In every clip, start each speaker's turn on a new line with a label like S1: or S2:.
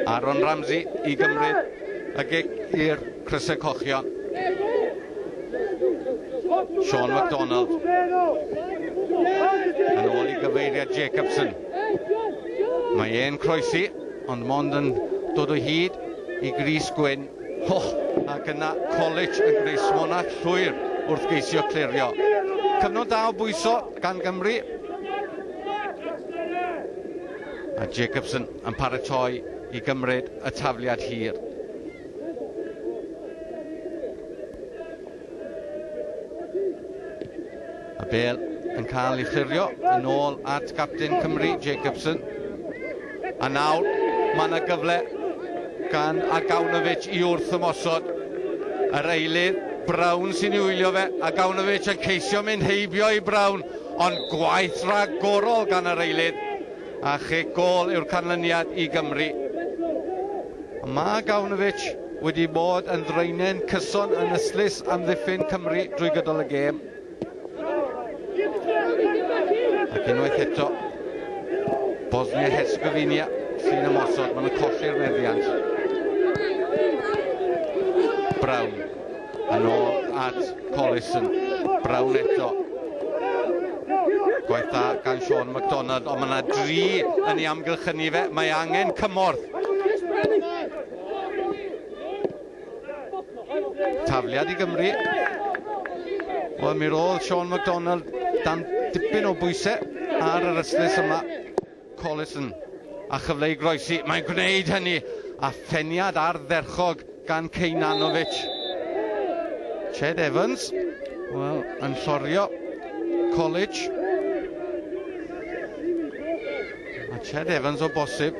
S1: Aaron Ramsey i gymryd y gig i'r crysau cochion. Sean McDonald. Yn ôl i gyfeiriad Jacobson. Mae e'n croesi, ond mond yn dod o hyd i Gris Gwyn. Ho, ac yna College yn gwneud smonach llwyr wrth geisio clirio. Cyfnod da o bwyso gan Gymru. A Jacobson yn paratoi i gymryd y tafliad hir. A Bale yn cael ei chlirio yn ôl at gapten Cymru, Jacobson. A nawr, mae yna gyfle gan Agawnovic i wrth ymosod. Yr eilydd, Brown sy'n ei wylio fe. Agawnovic yn ceisio mynd heibio i Brown, ond gwaith rhagorol gan yr eilydd. A chic gol yw'r canlyniad i Gymru. Mae Agawnovic wedi bod yn ddraenen cyson yn ystlys amddiffyn Cymru drwy gydol y gêm. Ac unwaith eto, Bosnia-Herzegovina sy'n ymosod, maen nhw'n colli'r meddiant. Brown, yn ôl at Collison, Brown eto. Gwaith da gan Sean McDonald, ond mae yna dri yn ei amgylchynu fe, mae angen cymorth. Tafliad i Gymru. Wel, mi roedd Sean McDonald dan dipyn o bwysau ar yr ystlys yma. Collison a chyfle i groesi. Mae'n gwneud hynny a pheniad ardderchog gan Kejnanovic. Ched Evans, wel, yn llorio College. Mae Ched Evans o bosib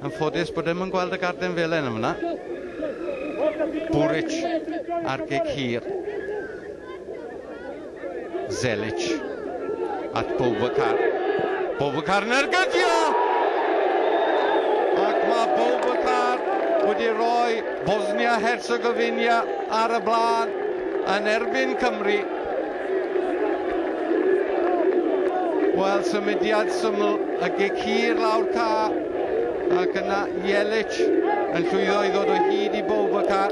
S1: yn ffodus bod ddim yn gweld y garden felen yn fyna. Buric ar gig hir. Zelic at Boubacar. Boubacar yn ergydio! Ac mae Boubacar wedi rhoi Bosnia-Herzegovina ar y blaen yn erbyn Cymru. Wel, symudiad syml y gig hir lawr ca ac yna Jelic yn llwyddo i ddod o hyd i bob y ca.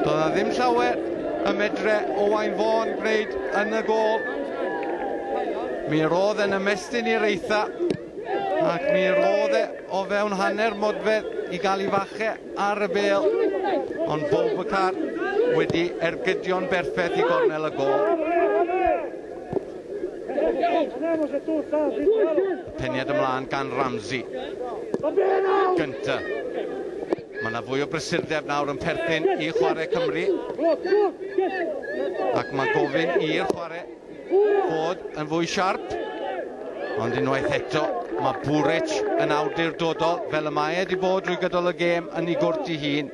S1: Doedd a ddim llawer y medre Owain Fôn gwneud yn y gol. Mi roedd yn ymestyn i'r eitha Ac mi roedd e o fewn hanner modfedd i gael ei fache ar y bel. Ond Boubacar wedi ergydio'n berffaith i gornel y gol. Peniad ymlaen gan Ramsey. Gynta. Mae yna fwy o brysurdeb nawr yn perthyn i chwarae Cymru. Ac mae gofyn i'r chwarae Ford yn fwy siarp, ond unwaith eto mae Buric yn awdurdodol fel y mae e wedi bod drwy gydol y gêm yn ei gwrt ei hun.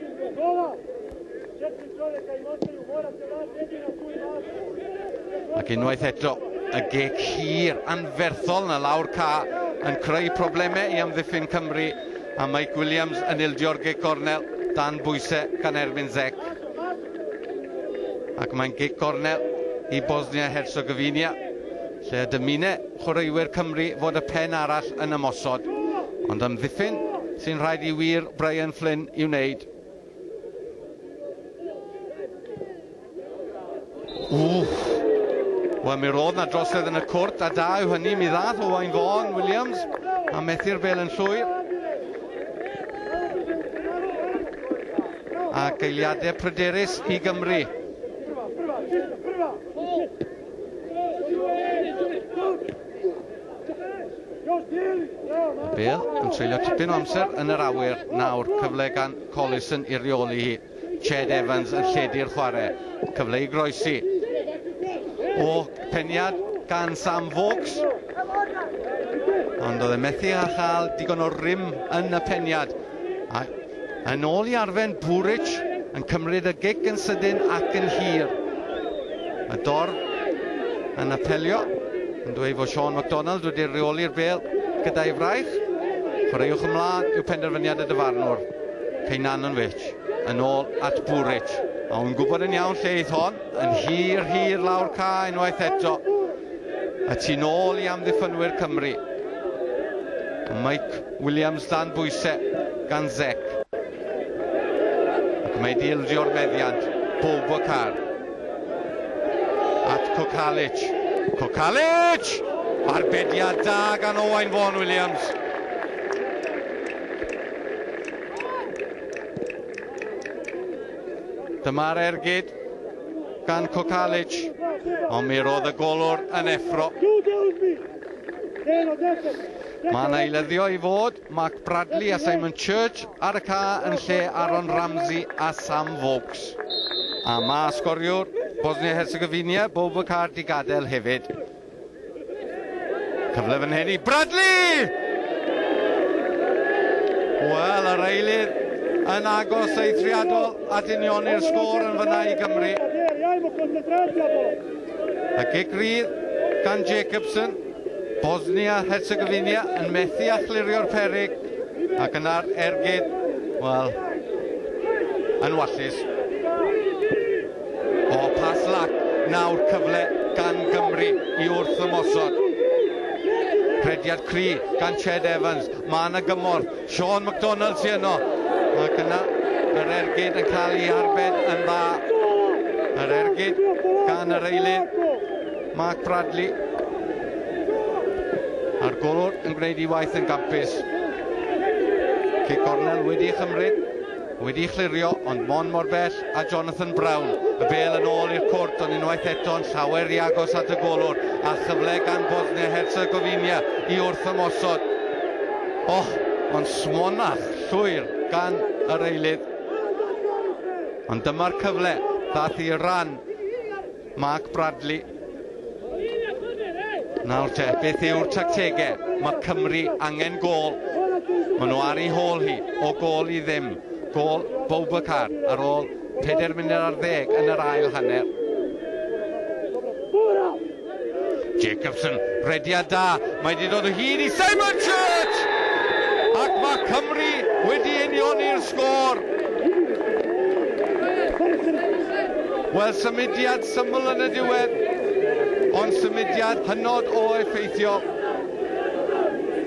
S1: Ac unwaith eto, y gec hir anferthol na lawr ca yn creu problemau i amddiffyn Cymru a Mike Williams yn ildio'r gec gornel dan bwysau gan erbyn Zec. Ac mae'n gig gornel i Bosnia-Herzegovina, lle y dymune chwaraewyr Cymru fod y pen arall yn ymosod, ond amddiffyn sy'n rhaid i wir Brian Flynn i'w wneud. Wel, mi roedd na drosedd yn y cwrt, a da yw hynny, mi ddath Owain Fôn Williams a methu'r bel yn llwyr. a geiliadau pryderus i Gymru. Bale yn treulio tipyn o amser yn yr awyr nawr. Cyfle gan Collison i reoli hi. Ched Evans yn lledu'r chwarae. Cyfle i groesi. O peniad gan Sam Vokes. Ond oedd e methu a chael digon o rym yn y peniad. A yn ôl i arfen Buric yn cymryd y gig yn sydyn ac yn hir. A Dor yn apelio yn dweud fod Sean MacDonald wedi reoli'r bel gyda'i fraich. Chwaraewch ymlaen yw penderfyniad y dyfarnwr. Ceinan yn wich. Yn ôl at Buric. A wy'n gwybod yn iawn lle eith hon. Yn hir, hir lawr ca unwaith eto. A ti'n ôl i amddiffynwyr Cymru. Mike Williams dan bwysau gan Zec. Ac mae wedi ildio'r meddiant, Boubacar. At Kokalic. Kokalic! Arbediad da gan Owain Vaughan Williams. Dyma'r ergyd gan Kokalic, ond mi roedd y golwr yn effro. Mae yna eileddio i fod Mark Bradley a Simon Church ar y ca yn lle Aaron Ramsey a Sam Vokes. A mae sgoriwr Bosnia-Herzegovina, Boubacar, di gadael hefyd. Cyfle fan hyn i Bradley! Wel, yr eilir yn agos eithriadol at unioni'r sgôr yn fyna i Gymru. Y gic rydd gan Jacobson. Bosnia-Herzegovina yn methu a chlirio'r peryg ac yna'r ergyd, wel, yn wallus. O, pas lac, nawr cyfle gan Gymru i wrth ymosod. Rhediad cri gan Ched Evans, mae yna gymorth, Sean McDonald sy'n yno, ac yna yr ergyd yn cael ei arbed yn dda. Yr ergyd gan yr eilydd. Mark Bradley. A'r golwr yn gwneud ei waith yn gampus. Cic gornel wedi ei chymryd, wedi ei chlirio, ond mon mor bell a Jonathan Brown. Y bel yn ôl i'r cwrt, ond unwaith eto'n llawer i agos at y golwr, a chyfle gan Bosnia Herzegovina i wrth ymosod. Och, ond smonach llwyr gan yr eilydd. Ond dyma'r cyfle, ddath i ran Mark Bradley. Nawr te, beth yw'r tactegau? Mae Cymru angen gol. Mae nhw ar ei hôl hi, o gol i ddim. Gol Boubacar ar ôl 4 munud ar ddeg yn yr ail hanner. Jacobson, rediad da, mae wedi dod o hyd i Simon Church! Ac mae Cymru wedi unioni'r sgôr. Wel, symudiad syml yn y diwedd, ond symudiad hynod o effeithiol.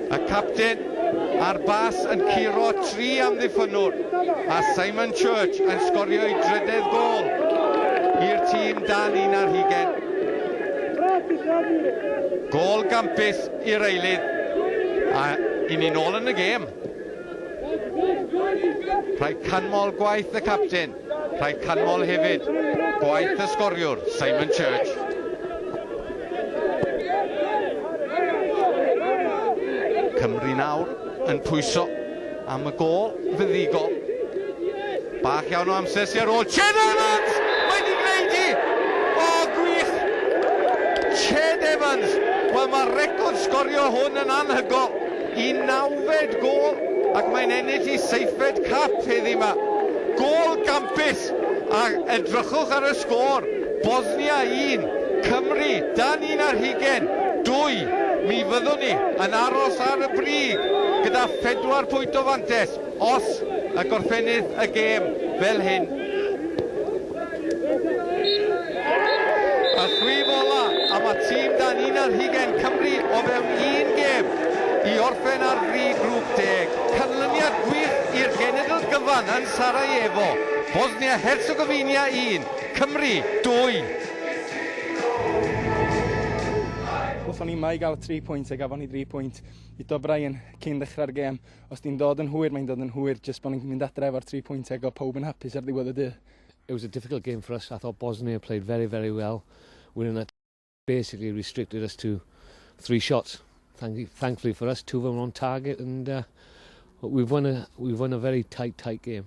S1: Y capten a'r bas yn curo tri amddiffynnwr, a Simon Church yn sgorio'i drydedd gôl i'r tîm dan un ar hugain. Gôl gampus i'r eilydd, a i ni'n ôl yn y gêm. Rhaid canmol gwaith y capten. Rhaid canmol hefyd gwaith y sgoriwr, Simon Church. Cymru nawr yn pwyso am y gol fyddigol. Bach iawn o amser sy'n ar ôl Ched Evans! Mae wedi gwneud hi! O, gwych! Ched Evans! Wel, mae'r record sgorio hwn yn anhygol. Y nawfed gôl ac mae'n ennill ei seithfed cap heddi 'ma. Gôl gampus a edrychwch ar y sgôr, Bosnia un, Cymru dan un ar hugain dwy. Mi fyddwn ni yn aros ar y brig gyda phedwar pwynt o fantais os y gorffennir y gêm fel hyn. A chwif ola am y tîm dan unan hugen Cymru o fewn un gêm i orffen ar fri grŵp deg. Canlyniad gwych i'r genedl gyfan yn Sarajevo. Bosnia-Herzegovina 1, Cymru 2.
S2: Gawson ni yma i gael y tri pwynt a gafon ni dri pwynt. Ito Bryan cyn ddechrau'r gêm. Os di'n dod yn hwyr, mae'n dod yn hwyr, jyst bod ni'n mynd adre efo'r tri pwynt ag o pawb yn hapus ar ddiwedd y dydd. It was a difficult
S3: game for us, I thought Bosnia played very, very well, we're in a basically restricted us to three shots, thankfully for us, two of them on target and uh, we've, won a, we've won a very tight, tight game.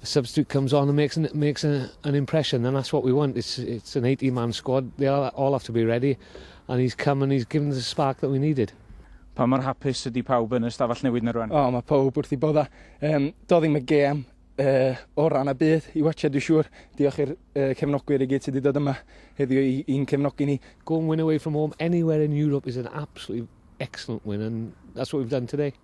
S3: The substitute comes on and makes an, makes an, an impression, and that's what we want. It's, it's an 80 man squad, they all, all have to be ready, and he's come and he's given the spark that we needed. Pa mor
S4: hapus ydy pawb yn y stafell newid na rwan? O, oh, mae pawb wrth i
S2: bodda. Um, do ddim y gêm uh, o ran y byd i watcha, dwi'n siŵr. Diolch i'r uh, cefnogwyr i gyd sydd wedi dod yma heddiw i'n cefnogi ni. Go and win away from home
S3: anywhere in Europe is an absolutely excellent win and that's what we've done today.